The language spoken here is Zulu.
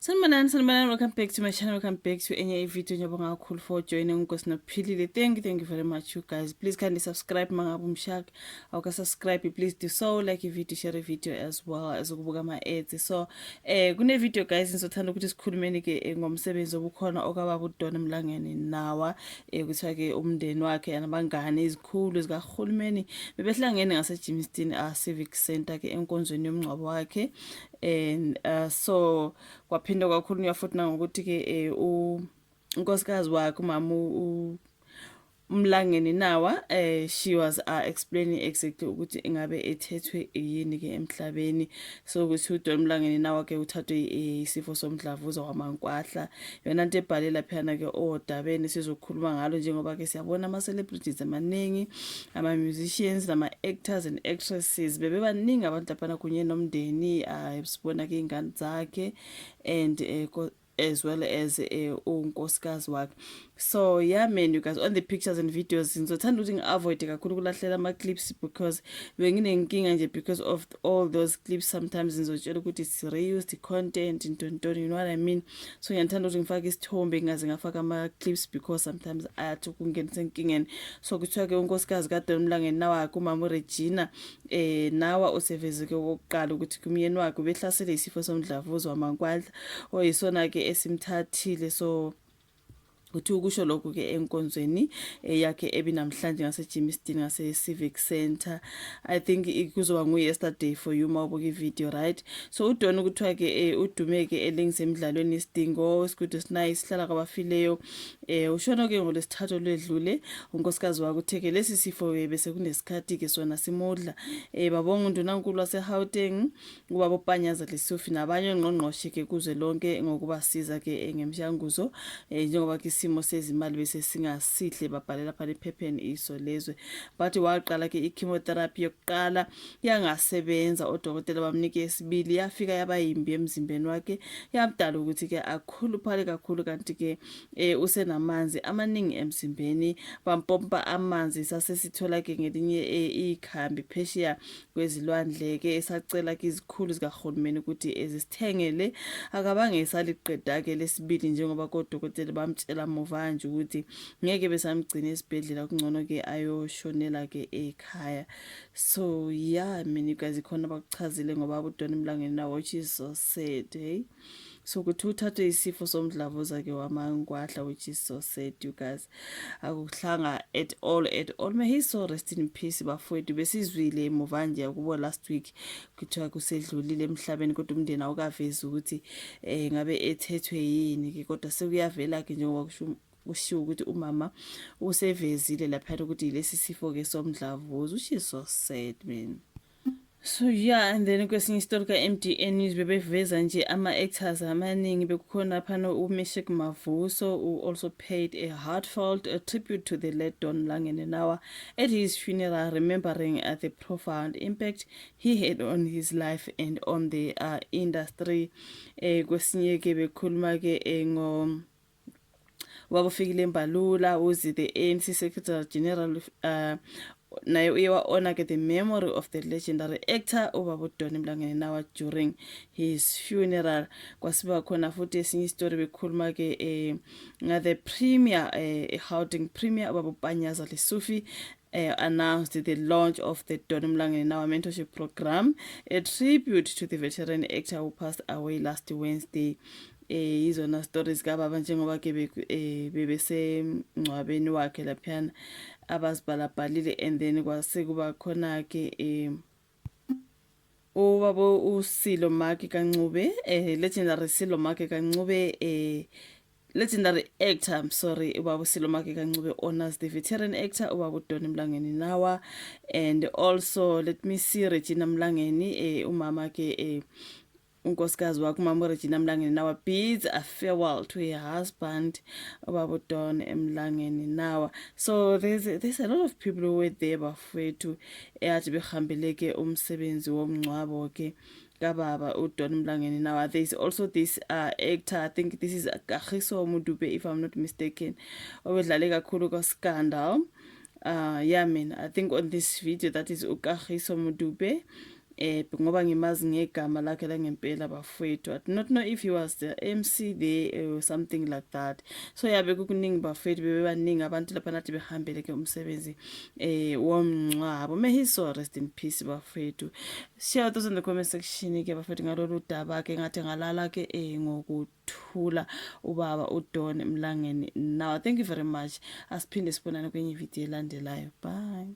Sanibonani sanibonani welcome back to my channel welcome back to enye ivideo ngiyabonga kakhulu for joining unkosi nophilile thank you thank you very much you guys please kindly subscribe mangabe umshaka awuka subscribe please do so like ivideo share ivideo as well as ukubuka ama-ads so eh kunevideo guys ngizothanda ukuthi sikhulumeni-ke eh, ngomsebenzi obukhona okababa udon emlangeni nawa eh kuthiwa-ke umndeni wakhe anabangane izikhulu zikahulumeni bebehlangene ngasejimiston a ah, civic center-ke enkonzweni yomngcwabo wakhe and uh, so kwaphinde kwakhulunywa futhi nangokuthi ke eh, u unkosikazi wakhe umama umlangeni nawa eh she was uh, explaining exactly ukuthi ingabe ethethwe yini ke emhlabeni so ukuthi uDon Mlangeni nawa ke uthathwe isifo somdlavuza wamankwahla yona nto ebhale laphiyana-ke odabeni sizokhuluma ngalo njengoba-ke siyabona ama-celebrities amaningi ama-musicians nama-actors and actresses bebebaningi abantu laphana kunye nomndeni um sibona-ke iy'ngane zakhe and um as well as eh, unkosikazi wakhe so yeah man you guys on the pictures and videos ngizothanda ukuthi ngi-avoide kakhulu ukulahlela ama-clips because benginenkinga nje because of all those clips sometimes ngizotshela ukuthi it's reused content ntontoni you know what i mean so ngiyandithanda ukuthi ngifake isithombe ngingaze ngafaka ama-clips because sometimes ayathi ukungenisa enkingeni so kuthiwa-ke unkosikazi kadon mlangeni nawakhe umama uregina eh nawa usevezeke okokuqala ukuthi kumyeni wakhe ubehlasele isifo somdlavuzo wamankwandla oyisona-ke esimthathile so uthi ukusho lokhu ke enkonzweni eh, yakhe ebinamhlanje ngasejimiston ngase-civic center i think kuzoba ngu-yesterday for you uma ubuka ivideo right so udon kuthiwa ke um eh, udumeke elingisemdlalweni isidingo isigudu sinaye sihlala kwabafileyo um ushona ke ngolwesithathu olwedlule unkosikazi wakutheke lesi sifo bese kunesikhathi ke sona simudla um babonga undunankulu wasehauteng ngubaba upanyaza lesufi nabanye ongqongqoshe ke kuze lonke ngokubasiza ke eh, ngemshanguzo eh, njengoba ke isimo sezimali bese singasihle babhalela phana ephepheni iso lezwe bathi waqala ke i-chemotherapy yokuqala yangasebenza odokotela bamnike esibili yafika yaba yimbi emzimbeni wakhe yamdala ukuthi ke akhuluphale kakhulu kanti ke eh, usenamanzi amaningi emzimbeni bampompa amanzi sasesithola ke ngelinye ikhambi phesheya kwezilwandle-ke esacela kizikhulu zikahulumeni ukuthi ezisithengele akabange esaliqeda-ke lesibili njengoba kodokotela bamtshela muva nje ukuthi ngeke besamgcina esibhedlela kungcono-ke ayoshonela-ke ekhaya so ya yeah, mina igazi khona bakuchazile ngoba abudona emlangeni nawo which is so sad hey so ukuthi uthathwe isifo somdlavuza ke wamangwadla which is so sad you guys akuhlanga at all at all may he so rest in peace bafowethu besizwile emuva nje kubo last week kuthiwa kusedlulile emhlabeni kodwa umndeni awukavezi ukuthi um ngabe ethethwe yini ke kodwa sekuyavela ke njengoba kusho kushiwo ukuthi umama usevezile laphana ukuthi yilesi sifo ke somdlavuza which is so sad man So yeah and then kwesinye isitori ka-MDA News bebeveza nje ama-actors amaningi bekukhona phana uMishik Mavuso who also paid a heartfelt a tribute to the late Don Langenenawa at his funeral remembering uh, the profound impact he had on his life and on the uh, industry eh kwesinye ke bekhuluma ke eh, ngo wakufikile mbalula uzi the anc secretary general uh, naye uye wa-ona ke the memory of the legendary actor ubabudoni mlangeni nawa during his funeral kwasiba khona futhi esinye isitori bekhuluma ke um eh, ngathe premier um eh, ehouding premier ubabupanyaza lesufi uh, announced the launch of the Don Mlangeni Nawa Mentorship Program, a tribute to the veteran actor who passed away last Wednesday. eh izona stories ka baba njengoba ke eh, bebesemngcwabeni wakhe laphana abazibhalabhalile and then kwase kuba khona ke eh ubaba usilo maki kancube eh legendary silo maki kancube eh legendary actor i'm sorry ubaba usilo maki kancube honors the veteran actor ubaba udoni mlangeni nawa and also let me see regina mlangeni eh umama ke eh unkosikazi wakho umama uregina mlangeni nawa bids a farewell to her husband ubaba udon emlangeni nawa so there's, there's a lot of people who were there bafowethu eyathi behambele ke umsebenzi womngcwabo ke kababa udon mlangeni nawa there's also this uh, actor i think this is kagiso mudube if i'm not mistaken obedlale kakhulu kwascandal Uh, yeah mina i think on this video that is ukagiso mudupe eh ngoba ngimazi ngegama lakhe langempela bafowethu i do not know if he was the mc there eh, or something like that so yabe kukuningi bafowethu bebebaningi abantu lapha nathi behambele ke umsebenzi eh womncwabo may his soul rest in peace bafowethu share those in the comment section ke bafowethu ngalolu daba ke ngathi ngalala ke eh ngokuthi thula ubaba udon emlangeni now thank you very much asiphinde sibonane kwenye ividiyo elandelayo bye